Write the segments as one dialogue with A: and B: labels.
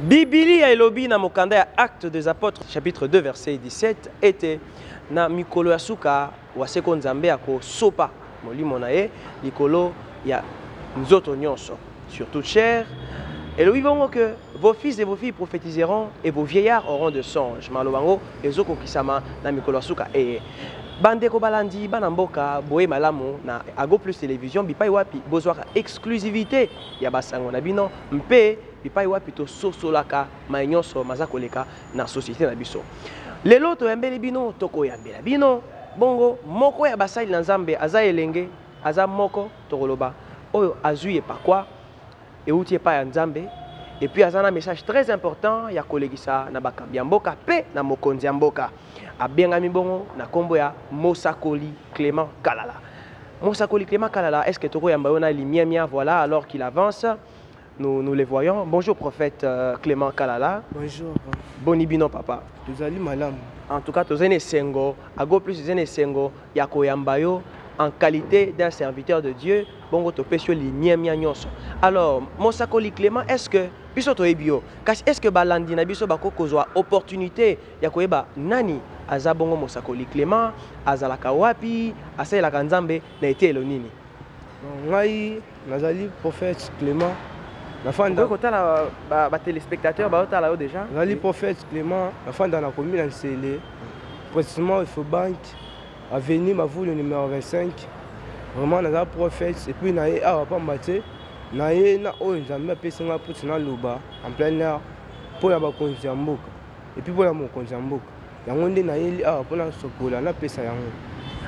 A: Biblia elobi na mokanda ya Actes des Apôtres chapitre 2 verset 17 ete na mikolo ya suka wa seko Nzambe akosopa molimo na ye likolo ya nzoto nyonso sur toute chair elobi bongo que vos fils et vos filles prophétiseront et vos vieillards auront de songes maloba yango ezokokisama na mikolo ya suka eye bandeko balandi bana mboka boye malamu na ago plus télévision bipai wapi bozwaka exclusivité ya basango na bino mpe bipai wapi tososolaka mai nyonso maza koleka na société na biso lelo toyambeli bino tokoyambela bino bongo moko ya basali na nzambe aza elenge aza moko tokoloba oyo azwi epakwa euti epai ya nzambe epuis aza na message très important ya kolekisa na bakambi ya mboka mpe na mokonzi ya mboka abengami bongo na nkombo ya mosakoli clément kalala mosakoli clément kalala est ce que tokoyamba yo na limiamia voilà alors qu'il avance nous, nous les voyons bonjour prophète euh, clément kalala bonjour
B: boni bino papa
A: tozali malamu
B: en tout cas tozali na
A: esengo ago plus ezali na esengo ya koyamba yo en qualité d'un serviteur de dieu bongo topesi yo limiamia nyonso alors mosakoli clément est ce que biso toyebi yo kasi est ce que balandi na biso bakoki kozwa opportunité ya koyeba nani aza bongo mosakoli Clement, azalaka wapi, asalelaka Nzambe na eteyelo nini? Ngai
B: nazali prophète Clement. Nafanda
A: kotala ba, ba téléspectateurs baotala yo déjà. Nazali prophète Clement,
B: nafanda na commune ya Nsele, précisément Efobank, avenue Mavulu numéro 25. Vraiment naza prophète et puis na ye awa pamba te na ye na oyo Nzambe apesi ngai mpo tina loba en plein air mpo ya bakonzi ya mboka. epuis mpo na mokonzi ya mboka yango nde nayeli awa mpo nasokola napesa yango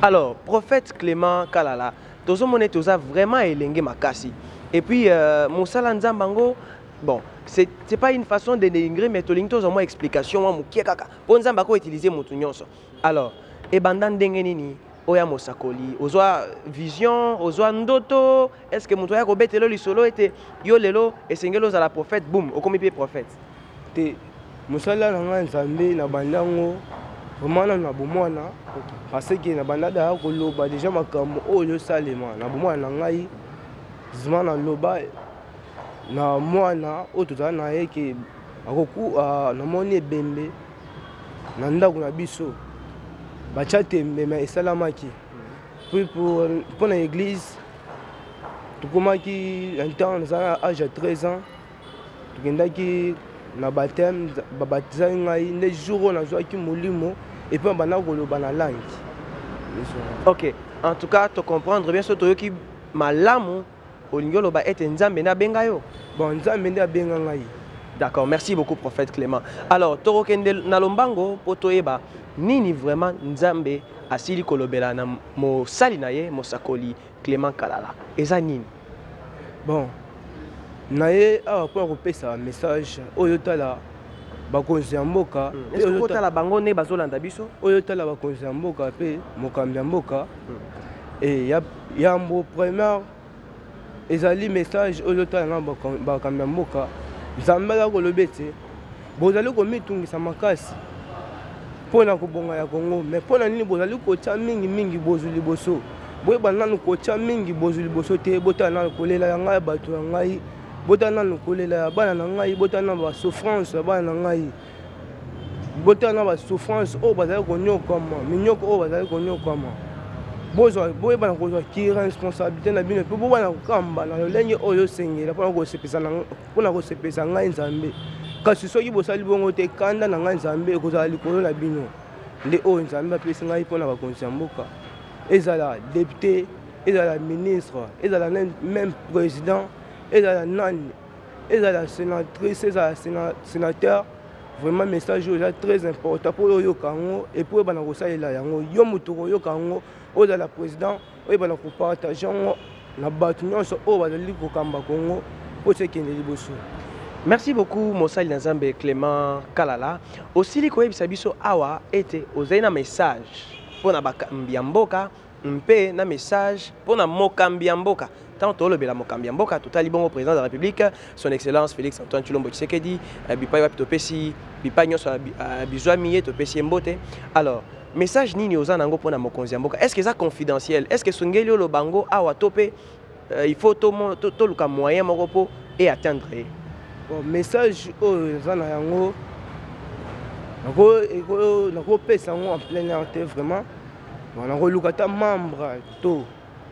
B: alors
A: prophète clément kalala tozomona ete oza vraiment elenge makasi epuis euh, mosala nzambe yango bon c'est pas une façon de dénigrer mais tolingi tozwa mwa explication mwa mokie kaka mpo nzambe akoutilize motu nyonso Alors, ebanda ndenge nini oya mosakoli ozwa vision ozwa ndoto est ce que moto aya kobetelo lisolo ete yo lelo esengeli ozala prophète boum okomi mpe prophète te
B: mosala na ngai nzambe na bandango vraiment nanu na bomwana parce que na banda daya koloba deja makambo oyo ezosalema na bomwana na ngai zima naloba na mwana oyo tozala na ye ke akoku ah, namoni ebembe na ndako na biso batya tembe me esalamaki mpo na église tokomaki un temps naza na age ya 13 ans tokendaki na bateme babatizaki ngai nde jour oyo nazwaki molimo epuis abanda koloba na langi
A: ok en tout cas tocomprendre bien so toyoki malamu olingi oloba ete nzambe nde abenga yo bon nzambe nde abenga
B: ngai d'accord merci
A: beaucoup prophète clément alors tokokende na lombango mpo toyeba nini vraiment nzambe asili kolobela na mosali na ye mosakoli clément kalala eza nini bon
B: na ye awa mpo ya kopesa message oyo tala bakonzi ya mboka hmm. otala bango
A: nde bazolanda biso oyo tala bakonzi ya
B: mboka mpe mokambi ya mboka hmm. eh, yambo première ezali message oyo ezotala na bakambi ya mboka nzambe azali koloba ete bozali komitungisa makasi mpo na kobonga ya kongo me mpo na nini bozali kotya mingi mingi bozwi liboso boyeba nanu kotya mingi bozwi liboso te botala nanu kolela ya ngai ya bato ya ngai botala nanu kolela ya bana na ngai botala nanu basouffrance ya bana na ngai botala na basouffrance oyo bazali konyokwama minyoko oyo bazali konyokwama boyebana kozwa ki responsabilité na bino mpe bobana kokamba na lolenge oyo osengela mpona kosepelisa ngai nzambe kasi soki bosali bongo te kanda na ngai nzambe ekozala likolo na bino nde oyo nzambe apesi ngai mpona bakonzi ya mboka ezala depute ezala ministre ezala meme président ezala nani ezala sénatrice ezala sénateur vraiment message oyo eza très important mpo oyo oyoka yango epuis oyebana kosalela yango yo moto okoyoka yango ozala président oyebana kopartage yango na bato nyonso oyo bazali kokamba kongo mpo sekende liboso merci
A: beaucoup mosali na nzambe clément kalala osili koyebisa biso awa ete ozali na message mpo na bakambi ya mboka mpe na message mpo na mokambi ya mboka ntango tolobela mokambi ya mboka totali bongo président de la république son excellence félix antoine tshilombo tshisekedi eh, bipai wapi topesi bipai nyonso eh, eh, bizwami ye topesi ye mbote alors message nini oza na yango mpo na mokonzi ya mboka est ce que eza confidentiel est ce que esongeli oloba yango awa to mpe il faut toluka moyen moko mpo e atteindre ye bon
B: message oyo eza na yango nakopesa yango en plein air te vraiment wana koluka ata membre to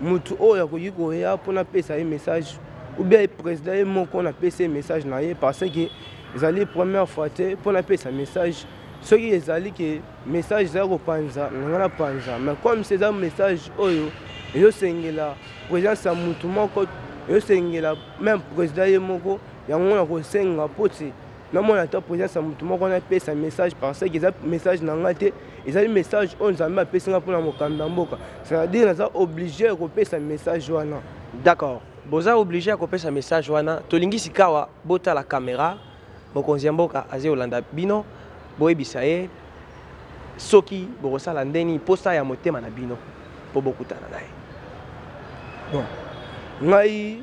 B: motu oyo akoki koya mpo napesa ye message oubien ye président ye moko napesa ye message na ye parce que ezali première fois te mpo napesa message soki ezali ke message ezali kopanza nanga napanza mais comme se eza message oyo ezosengela présence ya motu moko ezosengela même président ye moko yango nakosenga mpo te namona ata présence ya moto moko napesa message parce que eza message na ngai te ezali message oyo nzambe apesi ngai mpona mokambi ya mboka c'est-à-dire naza obligé ya kopesa message wana d'accord
A: boza obligé ya kopesa message wana tolingi sikawa botala kamera mokonzi ya mboka azali kolanda bino boyebisa ye soki bokosala ndeni mposa ya motema na bino mpo bokutana na ye
B: bon ngai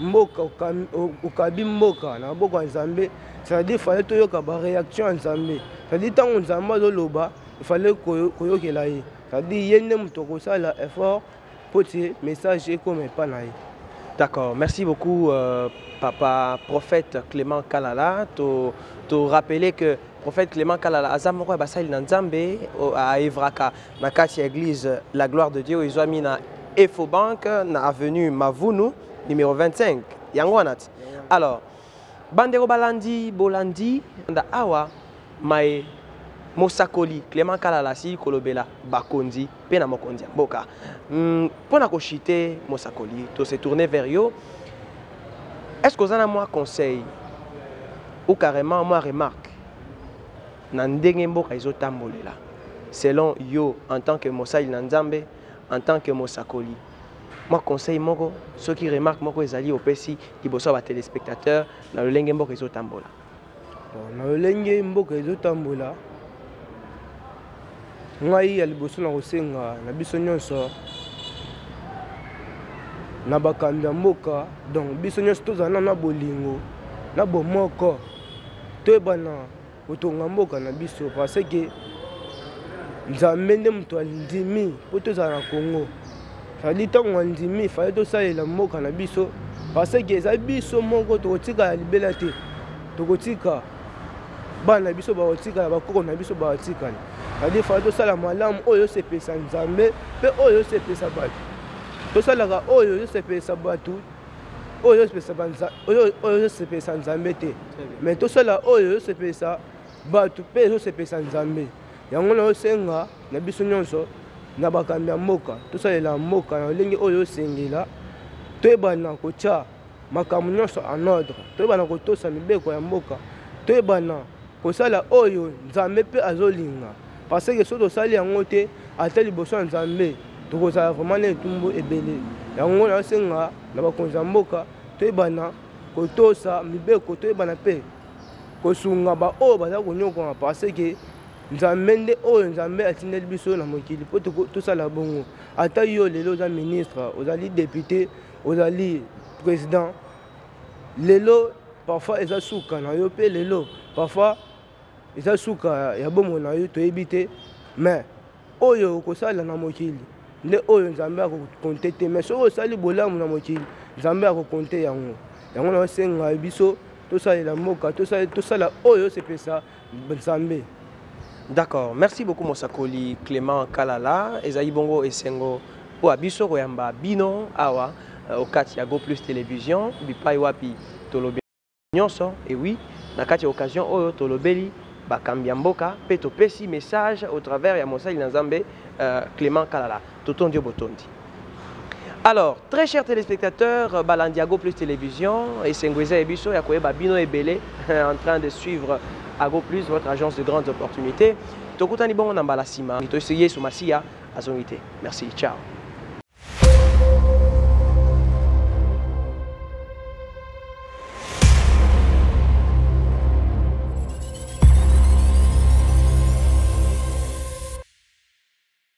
B: mboka okabi mboka na maboko ya nzambe c'est-à-dire fale toyoka baréaction ya nzambe c'est-à-dire ntango nzambe azoloba efale koyokela ye c'est-à-dire ye nde moto akosala effort mpo te message ekoma epa na ye d'accord merci
A: beaucoup euh, papa prophète clément kalala to, to rappeler que prophète clément kalala aza moko ya basali na nzambe aevraka na kati ya église la gloire de dieu ezwami na efobank na avenue mavunu numéro 25 yango wana ti alors bandeko balandi bolandi nda awa maye mosakoli clément kalala asili kolobela bakonzi mpe na mokonzi ya mboka mpo hmm, na koshite mosakoli to se tourne vers yo est ce que oza na mwa conseil ou carrément mwa remarque na ndenge mboka ezotambolela selon yo en tant que mosali na nzambe en tant que mosakoli mwa conseil moko soki remarque moko ezali opesi liboso ya batelespectateur na lolenge mboka ezotambola na
B: lolenge mboka ezotambola ngai ya liboso na kosenga na biso nyonso na bakambi ya mboka donc biso nyonso tozala nano na bolingo na bomoko toyebana kotonga mboka na biso parce que nzambe nde moto andimi mpo tozala na congo ezali ntango andimi fale tosalela mboka na biso parce que eza biso moko tokotikala libela te tokotika bana na biso bakotikala bakoko na biso bakotikala ezali fale tosala malamu oyo osepelisa nzambe mpe oyo osepelisa bato tosalaka oyo ezosepelisa bato oyo ezosepelisa nzambe te mai tosala oyo ezosepelisa bato mpe ezosepelisa nzambe yango naosenga na biso nyonso na bakambi ya mboka tosalela mboka na lolenge oyo osengela toyebana kotya makambo nyonso en ordre toyebana kotosa mibeko ya mboka toyebana kosala oyo nzambe mpe azolinga parce que soki tosali yango te ata liboso ya nzambe tokozala vraiment na etumbu ebele yango nasenga na bakonzi ya mboka toyebana kotosa mibeko toyebana mpe kosunga baoyo baza konyokwama parce que nzambe nde oyo nzambe atindeli biso na mokili mpo tosala bongo ata yo lelo oza ministre ozali depute ozali président lelo parfois eza suka na yo mpe lelo parfois eza suka ya bomoi na yo toyebi te mais oyo okosala na mokili nde oyo nzambe akokonte te mais soki osali bolamu na mokili nzambe akokonte yango yango naosenga biso tosalela mboka tosala oyo osepesa nzambe d'accord
A: merci beaucoup mosakoli clément kalala ezali bongo esengo mpo ya biso koyamba bino awa euh, okati ya go plus télévision bipai wapi tolobeli nyonso ewi na kati ya occasion oyo tolobeli bakambi ya mboka mpe topesi message au travers ya mosali na nzambe euh, clément kalala Totondi yo botondi. Alors, très chers téléspectateurs, euh, Balandiago Plus Télévision, et Sengueza Ebiso, Yakoeba Bino Ebele, en train de suivre Ago Plus, votre agence de grandes opportunités. Tokutani bongo na mbala sima, mito Yesu Masiya azongite. Merci, ciao.